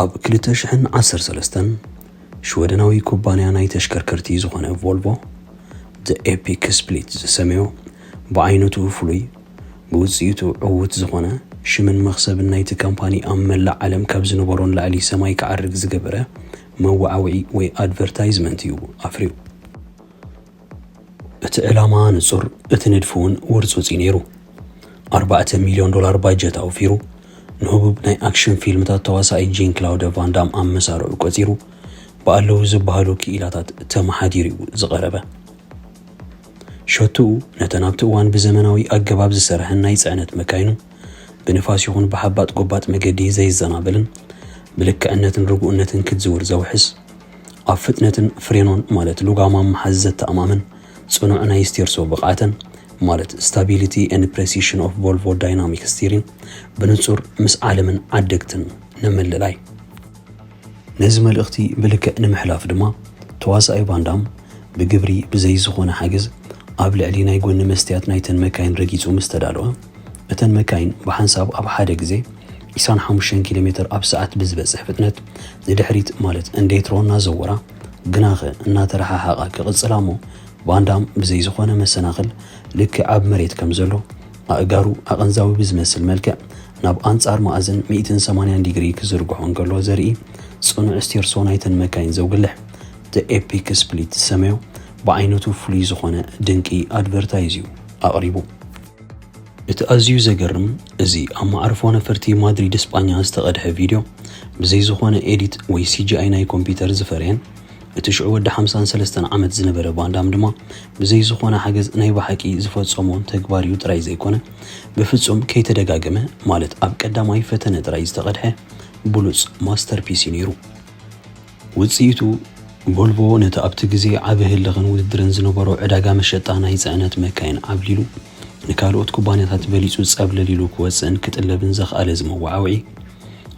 ኣብ ክልተ ሽሕን ዓሰርተ ሰለስተን ሽወደናዊ ኩባንያ ናይ ተሽከርከርቲ ዝኾነ ቮልቮ ዘ ኤፒክ ስፕሊት ዝሰመዮ ብዓይነቱ ፍሉይ ብውፅኢቱ ዕውት ዝኾነ ሽምን መኽሰብን ናይቲ ካምፓኒ ኣብ መላእ ዓለም ካብ ዝነበሮ ንላዕሊ ሰማይ ክዓርግ ዝገበረ መወዓውዒ ወይ ኣድቨርታይዝመንት እዩ ኣፍርዩ። እቲ ዕላማ ንጹር፣ እቲ ንድፊ እውን ውርጹጽ እዩ ነይሩ። ኣርባዕተ ሚልዮን ዶላር ባጀት ኣውፊሩ፣ ንህቡብ ናይ ኣክሽን ፊልምታት ተዋሳኣይ ጂን ክላውደ ቫን ዳም ኣብ መሳርዑ ቆጺሩ፣ ብኣለዉ ዝበሃሉ ክኢላታት ተመሓዲሩ እዩ ዝቐረበ። ሸቶኡ ነተን ኣብቲ እዋን ብዘመናዊ ኣገባብ ዝሰርሐን ናይ ጽዕነት መካይኑ፣ ብንፋስ ይኹን ብሓባጥ ጎባጥ መገዲ ዘይዘናበልን ብልክዕነትን ርጉእነትን ክትዝውር ዘውሕስ፣ ኣብ ፍጥነትን ፍሬኖን ማለት ሉጋማም ምሓዝ ዘተኣማምን ጽኑዕ ናይ ስቴርሶ ብቕዓተን ማለት ስታቢሊቲ ኤንድ ፕሬሲሽን ኦፍ ቮልቮ ዳይናሚክ ስቲሪን ብንጹር ምስ ዓለምን ዓደግትን ንምልላይ ነዚ መልእኽቲ ብልክዕ ንምሕላፍ ድማ ተዋሳኣይ ቫንዳም ብግብሪ ብዘይ ዝኾነ ሓገዝ ኣብ ልዕሊ ናይ ጎኒ መስትያት ናይተን መካይን ረጊጹ ምስ ተዳልወ፣ እተን መካይን ብሓንሳብ ኣብ ሓደ ግዜ ዒስራን ሓሙሽተን ኪሎ ሜተር ኣብ ሰዓት ብዝበጽሕ ፍጥነት ንድሕሪት ማለት እንዴትሮ እናዘወራ ግናኸ እናተረሓሓቓ ክቕጽላ እሞ ቫንዳም ብዘይ ዝኾነ መሰናኽል ልክዕ ኣብ መሬት ከም ዘሎ ኣእጋሩ ኣቐንዛዊ ብዝመስል መልክዕ ናብ ኣንጻር መኣዝን ሚእትን ሰማንያን ዲግሪ ክዝርግሖ እንከሎ ዘርኢ ጽኑዕ ስቴርሶ ናይተን መካይን ዘውግልሕ The Epic Split ዝሰመዮ ብዓይነቱ ፍሉይ ዝኾነ ድንቂ ኣድቨርታይዝ እዩ ኣቕሪቡ። እቲ ኣዝዩ ዘገርም እዚ ኣብ መዓርፎ ነፈርቲ ማድሪድ ስጳኛ ዝተቐድሐ ቪድዮ ብዘይ ዝኾነ ኤዲት ወይ ሲጂኣይ ናይ ኮምፒዩተር ዝፈረየን እቲ ሽዑ ወዲ ሓምሳን ሰለስተን ዓመት ዝነበረ ቫንዳም ድማ ብዘይ ዝኾነ ሓገዝ ናይ ብሓቂ ዝፈጸሞ ተግባር እዩ ጥራይ ዘይኮነ ብፍጹም ከይተደጋገመ ማለት ኣብ ቀዳማይ ፈተነ ጥራይ ዝተቐድሐ ብሉጽ ማስተርፒስ እዩ ነይሩ። ውጽኢቱ፣ ቮልቮ ነቲ ኣብቲ ግዜ ዓቢ ህልኽን ውድድርን ዝነበሮ ዕዳጋ መሸጣ ናይ ጽዕነት መካይን ዓብሊሉ ንካልኦት ኩባንያታት በሊጹ ጸብለል ኢሉ ክወጽእን ክጥለብን ዘኽኣለ እዚ መወዓውዒ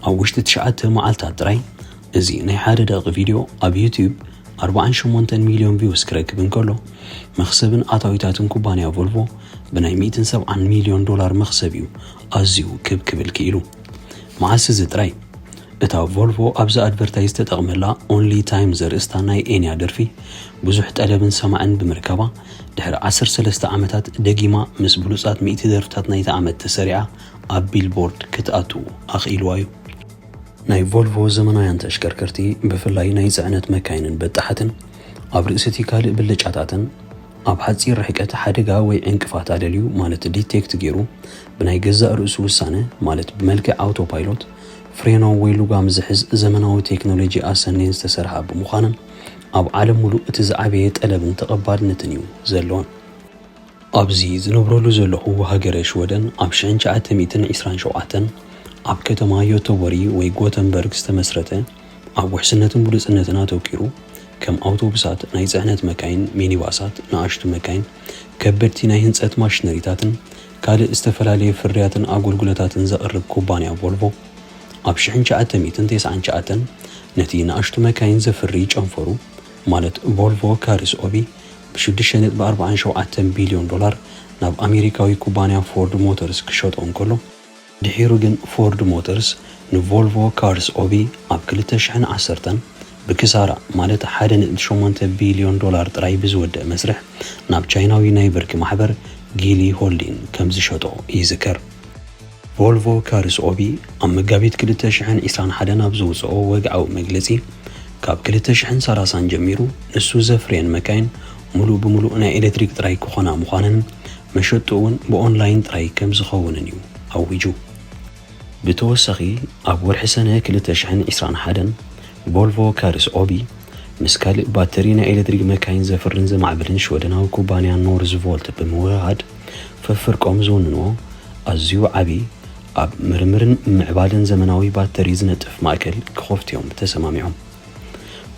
ኣብ ውሽጢ ትሽዓተ መዓልታት ጥራይ እዚ ናይ ሓደ ደቒቕ ቪድዮ ኣብ ዩትዩብ ኣርብዓን ሸሞንተን ሚልዮን ቪውስ ክረክብ እንከሎ መኽሰብን ኣታዊታትን ኩባንያ ቮልቮ ብናይ ሚእትን ሰብዓን ሚልዮን ዶላር መኽሰብ እዩ ኣዝዩ ክብ ክብል ክኢሉ። መዓስ እዚ ጥራይ እታ ቮልቮ ኣብዚ ኣድቨርታይዝ ዝተጠቕመላ ኦንሊ ታይም ዘርእስታ ናይ ኤንያ ደርፊ ብዙሕ ጠለብን ሰማዕን ብምርካባ ድሕሪ ዓሰርተ ሰለስተ ዓመታት ደጊማ ምስ ብሉጻት ሚእቲ ደርፍታት ናይቲ ዓመት ተሰሪዓ ኣብ ቢልቦርድ ክትኣቱ ኣኽኢልዋ እዩ። ናይ ቮልቮ ዘመናውያን ተሽከርከርቲ ብፍላይ ናይ ጽዕነት መካይንን በጣሓትን ኣብ ርእሲ እቲ ካልእ ብልጫታተን ኣብ ሓጺር ርሕቀት ሓደጋ ወይ ዕንቅፋት ኣለልዩ ማለት ዲቴክት ገይሩ ብናይ ገዛእ ርእሱ ውሳነ ማለት ብመልክዕ ኣውቶ ፓይሎት፣ ፍሬኖ ወይ ሉጋም ዝሕዝ ዘመናዊ ቴክኖሎጂ ኣሰንየን ዝተሰርሓ ብምዃነን ኣብ ዓለም ሙሉእ እቲ ዝዓበየ ጠለብን ተቐባልነትን እዩ ዘለወን። ኣብዚ ዝነብረሉ ዘለኹ ሃገረ ሽወደን ኣብ ሽሕን ትሽዓተ ሚእትን ዒስራን ሸውዓተን ኣብ ከተማ ዮተቦሪ ወይ ጎተንበርግ ዝተመስረተ ኣብ ውሕስነትን ብሉጽነትን ኣተኲሩ ከም ኣውቶቡሳት፣ ናይ ጽዕነት መካይን፣ ሚኒባሳት፣ ንኣሽቱ መካይን፣ ከበድቲ ናይ ህንጸት ማሽነሪታትን ካልእ ዝተፈላለዩ ፍርያትን ኣጎልጉሎታትን ዘቕርብ ኩባንያ ቮልቮ፣ ኣብ ሽሕን ትሽዓተ ሚእትን ተስዓን ትሽዓተን ነቲ ንኣሽቱ መካይን ዘፍሪ ጨንፈሩ ማለት ቮልቮ ካርስ ኦቢ ብሽዱሽተ ነጥቢ ኣርብዓን ሸውዓተን ቢልዮን ዶላር ናብ ኣሜሪካዊ ኩባንያ ፎርድ ሞተርስ ክሸጦ እንከሎ፣ ድሒሩ ግን ፎርድ ሞተርስ ንቮልቮ ካርስ ኦቢ ኣብ ክልተ ሽሕን ዓሰርተን ብክሳራ ማለት ሓደ ነጥቢ ሸሞንተ ቢልዮን ዶላር ጥራይ ብዝወድእ መስርሕ ናብ ቻይናዊ ናይ ብርኪ ማሕበር ጊሊ ሆልዲን ከምዝሸጦ ይዝከር። ቮልቮ ካርስ ኦቢ ኣብ መጋቢት ክልተ ሽሕን ዒስራን ሓደን ኣብ ዘውጽኦ ወግዓዊ መግለጺ ካብ ክልተ ሽሕን ሰላሳን ጀሚሩ ንሱ ዘፍርየን መካይን ምሉእ ብምሉእ ናይ ኤለትሪክ ጥራይ ክኾና ምዃነን መሸጥኡ'ውን ብኦንላይን ጥራይ ከምዝኸውንን እዩ ኣዊጁ። ብተወሳኺ ኣብ ወርሒ ሰነ ክልተ ሽሕን ዕስራን ሓደን፣ ቮልቮ ካርስ ኦቢ ምስ ካልእ ባተሪ ናይ ኤለትሪክ መካይን ዘፍርን ዘማዕብልን ሽወደናዊ ኩባንያ ኖርዝቮልት ብምውህሃድ ፍፍርቆም ዝውንንዎ ኣዝዩ ዓቢ ኣብ ምርምርን ምምዕባልን ዘመናዊ ባተሪ ዝነጥፍ ማእከል ክኸፍቱ'ዮም ተሰማሚዖም።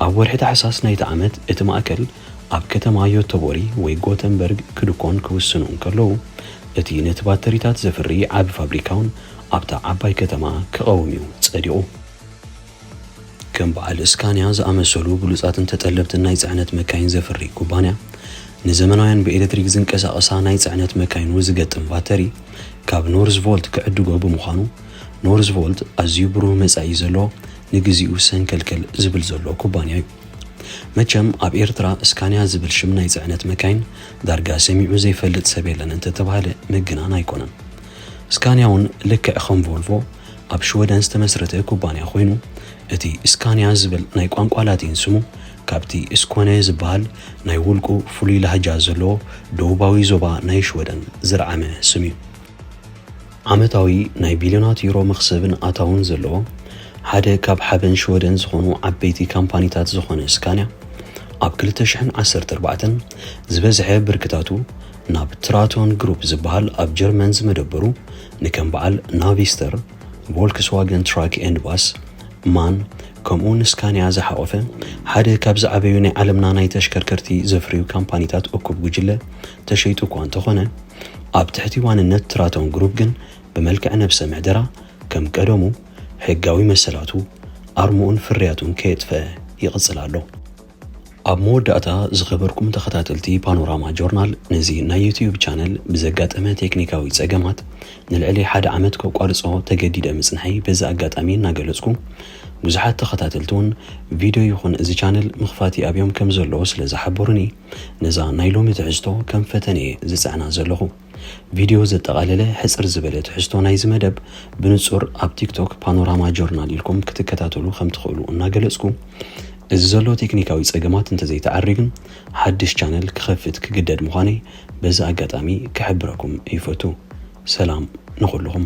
ኣብ ወርሒ ታሕሳስ ናይቲ ዓመት እቲ ማእከል ኣብ ከተማ ዮተቦሪ ወይ ጎተንበርግ ክድኮን ክውስኑ እንከለዉ፣ እቲ ነቲ ባተሪታት ዘፍሪ ዓቢ ፋብሪካውን ኣብታ ዓባይ ከተማ ክቐውም እዩ ጸዲቑ። ከም በዓል ስካንያ ዝኣመሰሉ ብሉጻትን ተጠለብትን ናይ ጽዕነት መካይን ዘፍሪ ኩባንያ፣ ንዘመናውያን ብኤለትሪክ ዝንቀሳቐሳ ናይ ጽዕነት መካይኑ ዝገጥም ባተሪ ካብ ኖርዝቮልት ክዕድጎ ብምዃኑ፣ ኖርዝቮልት ኣዝዩ ብሩህ መጻኢ ዘለዎ ንግዜኡ ሰንከልከል ዝብል ዘሎ ኩባንያ'ዩ። መቸም ኣብ ኤርትራ እስካንያ ዝብል ሽም ናይ ጽዕነት መካይን ዳርጋ ሰሚዑ ዘይፈልጥ ሰብ የለን እንተተባህለ ምግናን ኣይኮነን። እስካንያ ውን ልክዕ ከም ቮልቮ ኣብ ሽወደን ዝተመስረተ ኩባንያ ኮይኑ እቲ እስካንያ ዝብል ናይ ቋንቋ ላቲን ስሙ ካብቲ ስኮነ ዝበሃል ናይ ውልቁ ፍሉይ ላህጃ ዘለዎ ደቡባዊ ዞባ ናይ ሽወደን ዝርዓመ ስም'ዩ። ዓመታዊ ናይ ቢልዮናት ዩሮ መኽሰብን ኣታውን ዘለዎ ሓደ ካብ ሓበን ሽወደን ዝኾኑ ዓበይቲ ካምፓኒታት ዝኾነ ስካንያ ኣብ ክልተ ሽሕን ዓሰርተ ኣርባዕተን ዝበዝሐ ብርክታቱ ናብ ትራቶን ግሩፕ ዝበሃል ኣብ ጀርመን ዝመደበሩ ንከም በዓል ናቪስተር፣ ቮልክስዋገን ትራክ ኤንድ ባስ፣ ማን ከምኡውን ስካንያ ዝሓቖፈ ሓደ ካብ ዝዓበዩ ናይ ዓለምና ናይ ተሽከርከርቲ ዘፍርዩ ካምፓኒታት እኩብ ጉጅለ ተሸይጡ እኳ እንተኾነ፣ ኣብ ትሕቲ ዋንነት ትራቶን ግሩፕ ግን ብመልክዕ ነብሰ ምሕደራ ከም ቀደሙ ሕጋዊ መሰላቱ፣ ኣርምኡን ፍርያቱን ከየጥፈኣ ይቕጽል ኣሎ። ኣብ መወዳእታ ዝኸበርኩም ተኸታተልቲ ፓኖራማ ጆርናል ነዚ ናይ ዩትዩብ ቻነል ብዘጋጠመ ቴክኒካዊ ጸገማት ንልዕሊ ሓደ ዓመት ከቋርጾ ተገዲደ ምጽንሐይ በዚ ኣጋጣሚ እናገለጽኩ ብዙሓት ተኸታተልቲውን ቪድዮ ይኹን እዚ ቻነል ምኽፋት ይኣብዮም ከምዘለዎ ስለዝሓበሩኒ ነዛ ናይ ሎሚ ትሕዝቶ ከም ፈተነ እየ ዝጽዕና ዘለኹ። ቪድዮ ዘጠቓለለ ሕጽር ዝበለ ትሕዝቶ ናይዚ መደብ ብንጹር ኣብ ቲክቶክ ፓኖራማ ጆርናል ኢልኩም ክትከታተሉ ከም ትኽእሉ እናገለጽኩ፣ እዚ ዘሎ ቴክኒካዊ ጸገማት እንተዘይተዓርዩ ግን ሓድሽ ቻነል ክኸፍት ክግደድ ምዃነይ በዚ ኣጋጣሚ ክሕብረኩም ይፈቱ። ሰላም ንኹሉኹም።